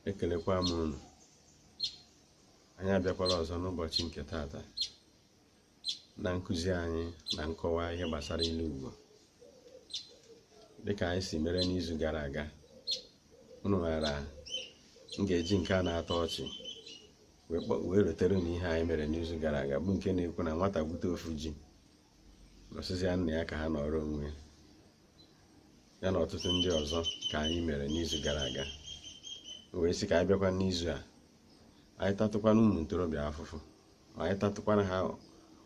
ekelekwa m unu anyị abịakwala ọzọ n'ụbọchị nke taata na nkụzi anyị na nkọwa ihe gbasara ilu Igbo dịka anyị si mere n'izu gara aga unu maara m ga-eji nke a na-atọ ọchị wee rotere unu ihe anyị mere n'izu gara aga bụ nke na-ekwu na nwata gbute ofu ji n'ọ sịzịa nna ya ka ha nọrọ onwe ya na ọtụtụ ndị ọzọ ka anyị mere n'izu gara aga wee sị ka anyị bịakwa n'izu a anyị tatụkwana ụmụ ntorobịa afụfụ anyị tatụkwana ha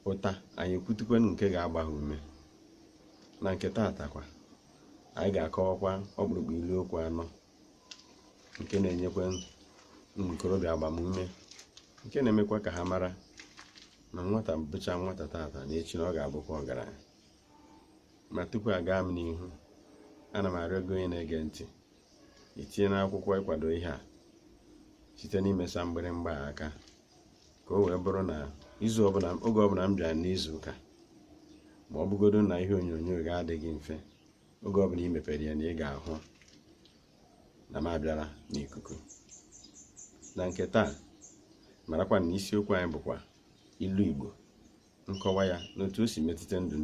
ụta anyị ekwutukwanụ nke ga-agba ha ume na nke taata kwa anyị ga-akọwakwa ọkpụrụkpụ ilu okwu anọ nke na-enyekwa ụmụ ntorobịa agbamume nke na-emekwa ka ha mara na nwata bụcha nwata taata na echi na ọ ga-abụkwa ọgaranya ma tupu aga m n'ihu ana m arịọ gị onye na-ege ntị itinye n'akwụkwọ ịkwado ihe a site n'imesa mgbịrịmgba a aka ka o wee bụrụ na oge ọbụla m bịara n'izu ụka ma ọ bụgodo na ihe onyonyo gị adịghị mfe oge ọbụla i mepere ya na ị ga-ahụ na m abịala n'ikuku na nke taa marakwa na isiokwu anyị bụkwa ilu igbo nkọwa ya na otu o si metụta ndụ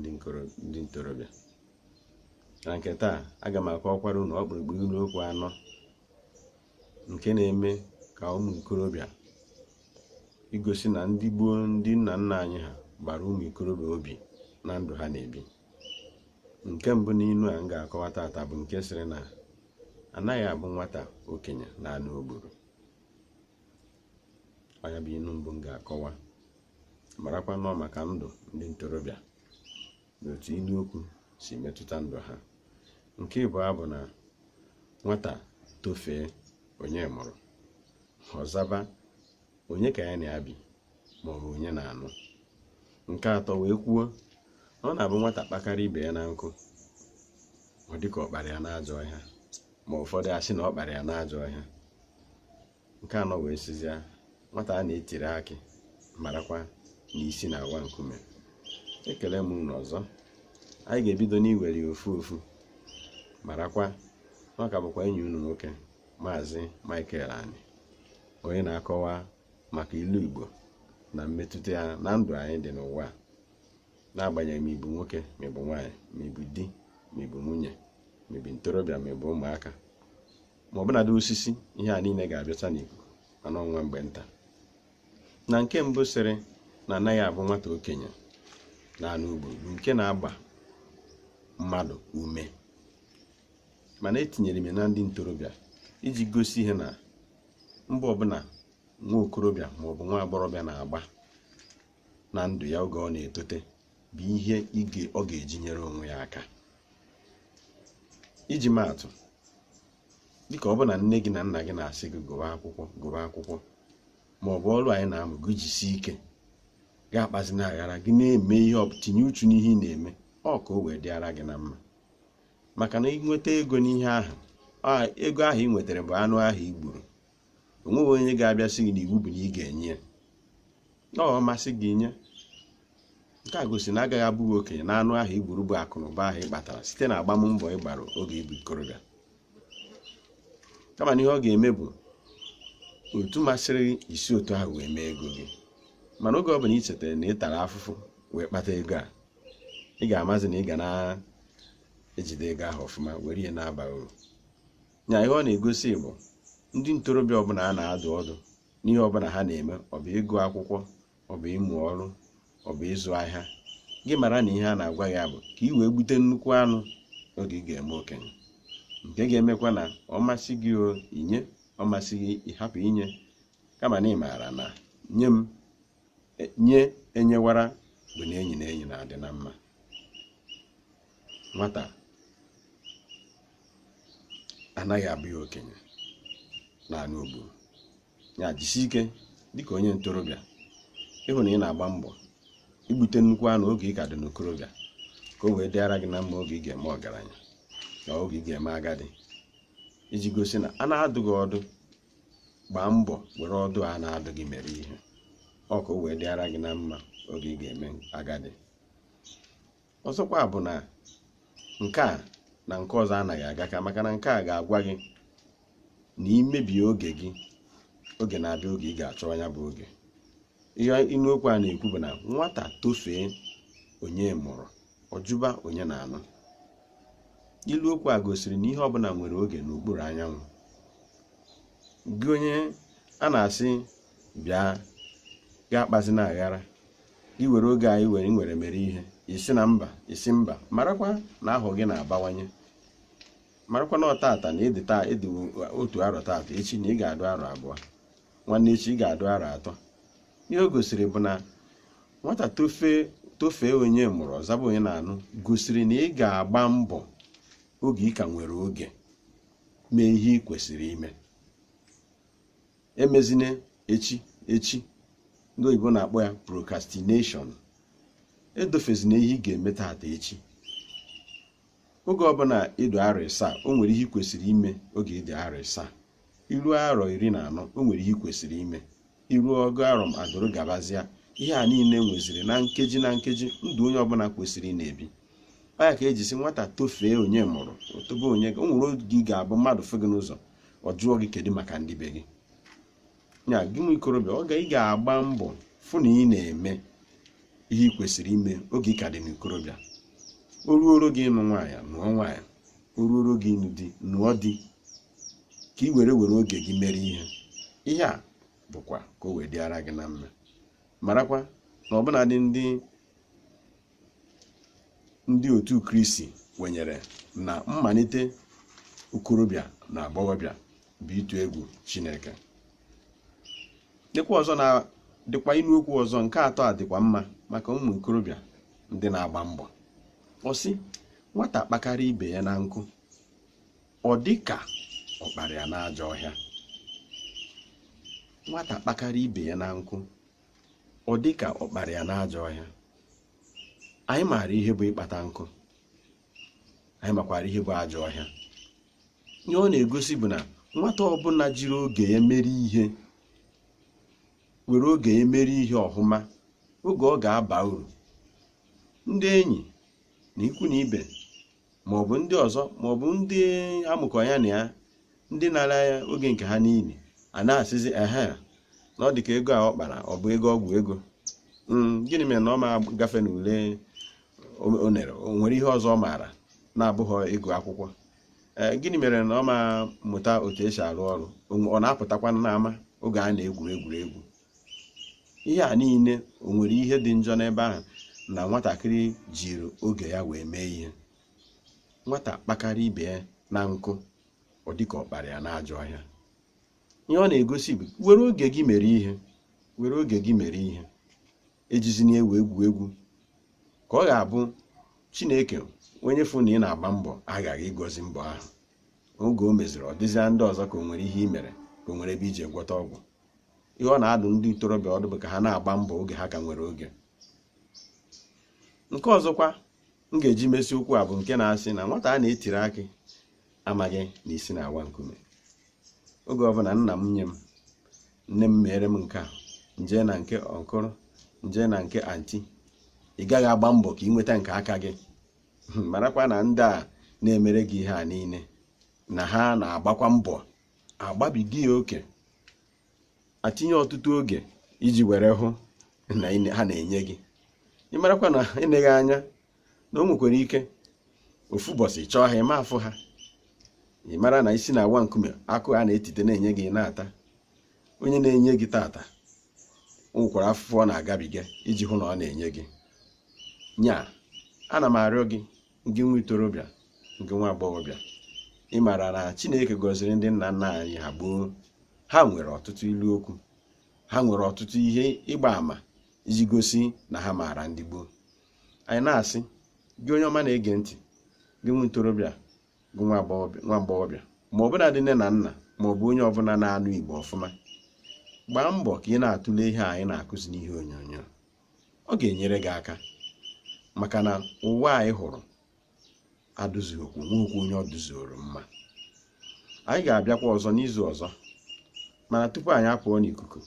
ndị ntorobịa na nke taa aga m akọwakwara unu ọkpụrụkpụ ilu okwu anọ nke na-eme ka ụmụ ikorobịa igosi na ndị gboo ndị nna nna anyị ha gbara ụmụ ikorobịa obi na ndụ ha na-ebi nke mbụ n'ilu a m ga-akọwa taata bụ nke sịrị na anaghị abụ nwata okenye n'anụ o gburu ọ nya bụ ilu mbụ m ga-akọwa marakwa n'ọ maka ndụ ndị ntorobịa na otu ilu okwu si metụta ndụ ha nke ịbụọ bụ na nwata tofee onye mụrụ ọ zaba onye ka ya na ya bi ma ọ bụ onye na-anụ nke atọ wee kwuo na ọ na-abụ nwata kpakarịa ibe ya na nkụ ọ dịka ọ kpara ya n'ajọ ọhịa ma ụfọdụ asị na ọ kpara ya n'ajọ ọhịa nke anọ wee sịzia nwata a na-etiri akị marakwa na isi na-awa nkume ekele m unu ọzọ anyị ga-ebido n'iwere ya ofu ofu marakwa na ọ ka bụkwa enyi unu nwoke maazị Michael Ani onye na-akọwa maka ilu Igbo na mmetụta ya na ndụ anyị dị n'ụwa n'agbanyeghị ma ịbụ nwoke ma ịbụ nwaanyị ma ịbụ di ma ịbụ nwunye ma ịbụ ntorobịa ma ịbụ ụmụaka ma ọbụnadị osisi ihe a niile ga-abịacha n'ikuku ma a nọọ nwa mgbe nta na nke mbụ sịrị na anaghị abụ nwata okenye na anụ o gburu bụ nke na-agba mmadụ ume mana etinyere m ya na ndị ntorobịa iji gosi ihe na mbọ ọbụla nwa okorobịa maọbụ nwa agbọghọbịa na-agba na ndụ ya oge ọ na-etote bụ ihe ọ ga-eji nyere onwe ya aka iji maatụ dịka ọ bụ na nne gị na nna gị na-asị gị gụwa akwụkwọ gụwa akwụkwọ ma ọ bụ ọrụ anyị na-amụ gị jisie ike gị akpazina aghara gị na-eme ihe tinye uchu n'ihe ị na-eme ọ ka o wee dịara gị na mma maka na i nweta ego n'ihe ahụ ego ahụ i nwetara bụ anụ ahụ i gburu o nweghị onye ga-abịa sị gị na iwu bụ na ị ga-enye ya na ọ masị gị nye nke a gosi na agaghị abụ gị okenye na anụ ahụ i gburu bụ akụ na ụba ahụ ị kpatara site na agbammbọ ị gbara oge ị bụ ikorobịa kama na ihe ọ ga-eme bụ otu masịrị gị i si otu ahụ wee mee ego gị mana oge ọ bụla ị chetara na ị tara afụfụ wee kpata ego a ị ga-amazi na ị ga na-ejide ego ahụ ọfụma were ihe na-aba uru nya ihe ọ na-egosi bụ ndị ntorobịa ọbụla a na-adụ ọdụ n'ihe ọbụla ha na-eme ọ bụ ịgụ akwụkwọ ọ bụ ịmụ ọrụ ọ bụ ịzụ ahịa gị mara na ihe a na-agwa ya bụ ka ị wee gbute nnukwu anụ oge ị ga-eme okenye nke ga-emekwa na ọ masị gị i nye ọ masị gị ị hapụ inye kama na ị maara na nye m nye enyewara bụ na enyi na enyi na-adị na mma nwata anaghị abụ ya okenye na anụ o gburu ya jisi ike dịka onye ntorobịa ịhụ na ị na-agba mbọ igbute nnukwu anụ oge ị ka dị n'okorobịa ka o wee dịara gị na mma oge ị ga-eme ọgaranya na oge ị ga-eme agadi iji gosi na a na-adụ gị ọdụ gbaa mbọ were ọdụ a na-adụ gị mere ihe ọ ka o wee dịara gị na mma oge ị ga-eme agadi ọzọkwa bụ na nke a na nke ọzọ anaghị aga ka maka na nke a ga-agwa gị na i mebie oge gị oge na-abịa oge ị ga-achọ ya bụ oge ihe inu okwu a na-ekwu bụ na nwata tofee onye mụrụ ọ jụba onye na-anụ ilu okwu a gosiri na ihe ọbụla nwere oge n'okpuru anyanwụ gị onye a na-asị bịa gaa akpazina aghara i were oge a i nwere mere ihe ị sị na mba ị sị mba marakwa na ahọ gị na-abawanye marakwa na ọ tata na ị dị otu arọ tata echi na ị ga-adụ arọ abụọ nwanne echi ị ga-adụ arọ atọ ihe o gosiri bụ na nwata tofee onye mụrụ ọ zaba onye na-anụ gosiri na ị ga-agba mbọ oge ị ka nwere oge mee ihe ị kwesịrị ime emezine echi echi ndị oyibo na-akpọ ya procrastination edofezina ihe ị ga-eme tata echi oge ọbụla ị dụ arọ ịsaa o nwere ihe ị kwesịrị ime oge ị dị arọ ịsaa i ruo arọ iri na anọ o nwere ihe ị kwesịrị ime i ruo ọgụ arọ adụrụ gabazịa ihe a niile nweziri na nkeji na nkeji ndụ onye ọbụla kwesịrị ị na-ebi ọ ya ka e ji sị nwata tofee onye mụrụ o tobe onye o nwere oge ị ga-abụ mmadụ fụ gị n'ụzọ ọ jụọ gị kedu maka ndị be gị ya gị nwa ikorobịa oge ị ga-agba mbọ fụ na ị na-eme ihe ị kwesịrị ime oge ị ka dị n'ikorobịa o ruoro gị ịnụ nwaanyị nụọ nwaanyị o ruoro gị ịnụ di nụọ di ka ị were were oge gị mere ihe ihe a bụkwa ka o wee dịara gị na mma marakwa na ọbụnadị ndị ndị otu kristi kwenyere na mmalite okorobịa na agbọghọbịa bụ ịtụ egwu chineke lekwa ọzọ na dịkwa inu okwu ọzọ nke atọ a dịkwa mma maka ụmụ okorobịa ndị na-agba mbọ ọ sị nwata kpakarịa ibe ya na nkụ ọ dị ka ọ kpara ya n'ajọ ọhịa nwata kpakarịa ibe ya na nkụ ọ dị ka ọ kpara ya n'ajọ ọhịa anyị maara ihe bụ ịkpata nkụ anyị makwara ihe bụ ajọ ọhịa ihe ọ na-egosi bụ na nwata ọbụla jiri oge ya mere ihe were oge ya mere ihe ọhụma oge ọ ga-aba uru ndị enyi na ikwu na ibe ma ọ bụ ndị ọzọ ma ọ bụ ndị a mụkọ ya na ya ndị nara oge nke ha n'iyi a na-asịzi ehe na ọ dị ka ego a ọ kpara ọ bụ ego ọgwụ ego Mm, gịnị mere na ọ ma gafe n'ule o- o nere o nwere ihe ọzọ ọ maara na-abụghị ịgụ akwụkwọ Ee, gịnị mere na ọ ma mụta otu esi arụ ọrụ O nwe- ọ na-apụtakwa n'ama oge a na-egwuri egwuregwu ihe a niile o nwere ihe dị njọ n'ebe ahụ na nwatakịrị jiri oge ya wee mee ihe nwata kpakara ibe ya na nkụ ọ dịka ọ kpara ya n'ajọ ọhịa ihe ọ na-egosi bụ were oge gị mere ihe were oge gị mere ihe ejizina wee egwu egwu ka ọ ga-abụ chineke onye fụ na ị na-agba mbọ aghaghị ịgọzi mbọ ahụ oge o meziri ọ dịzịa ndị ọzọ ka o nwere ihe i mere ka o nwere ebe i ji gwọta ọgwụ ihe ọ na-adụ ndị ntorobịa ọdụ bụ ka ha na-agba mbọ oge ha ka nwere oge nke ọzọkwa m ga-eji mesi okwu a bụ nke na-asị na nwata a na-etiri akị amaghị na isi na-awa nkume oge ọbụla nna m nye m nne m mere m nke a nje na nke uncle nje na nke aunty ị gaghị agba mbọ ka ị nweta nke aka gị marakwa na ndị a na-emere gị ihe a niile na ha na-agbakwa mbọ agbabiga ya oke atinye ọtụtụ oge iji were hụ na ị- ha na-enye gị ị marakwa na eneghị anya na o nwekwara ike ofu ụbọsị ị chọọ ha ị ma afụ ha ị mara na isi na-awa nkume akụ a na-etite na-enye gị ị na-ata onye na-enye gị tata o nwekwara afụfụ ọ na-agabiga iji hụ na ọ na-enye gị nya ana m arịọ gị gị nwa ntorobịa gị nwa agbọghọbịa ị maara na chineke gọziri ndị nna nna anyị ha gboo ha nwere ọtụtụ ilu okwu ha nwere ọtụtụ ihe ịgba àmà iji gosi na ha maara ndị gboo anyị na-asị gị onye ọma na-ege ntị gị nwa ntorobịa gị nwa agbọghọbịa ma ọ bụnadị nne na nna ma ọ bụ onye ọbụla na-anụ igbo ọfụma gbaa mbọ ka ị na-atụle ihe anyị na-akụzi n'ihe onyonyo ọ ga-enyere gị aka maka na ụwa anyị hụrụ adịzukwu nwehukwu onye ọ dịzuoro mma anyị ga-abịakwa ọzọ n'izu ọzọ mana tupu anyị apụọ n'ikuku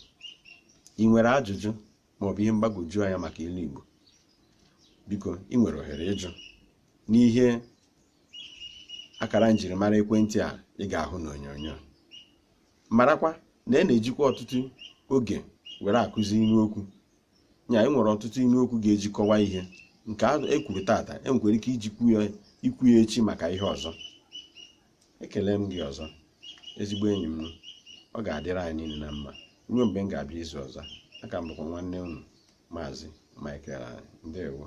ị nwere ajụjụ maọbụ ihe mgbagwoju anya maka ilu Igbo biko ị nwere ohere ịjụ n'ihe akara njirimara ekwentị a ị ga-ahụ n'onyonyo marakwa na e na-ejikwa ọtụtụ oge were akụzi ilu okwu ya e nwere ọtụtụ ilu okwu ga-eji kọwa ihe nke e kwuru tata e nwekwara ike ijikwu ya echi maka ihe ọzọ ekele m gị ọzọ ezigbo enyi m ọ ga-adịrị anyị niile na mma ruo mgbe m ga-abịa izu ọzọ a ka m bụkwa nwanne unu maazị Michael ndewo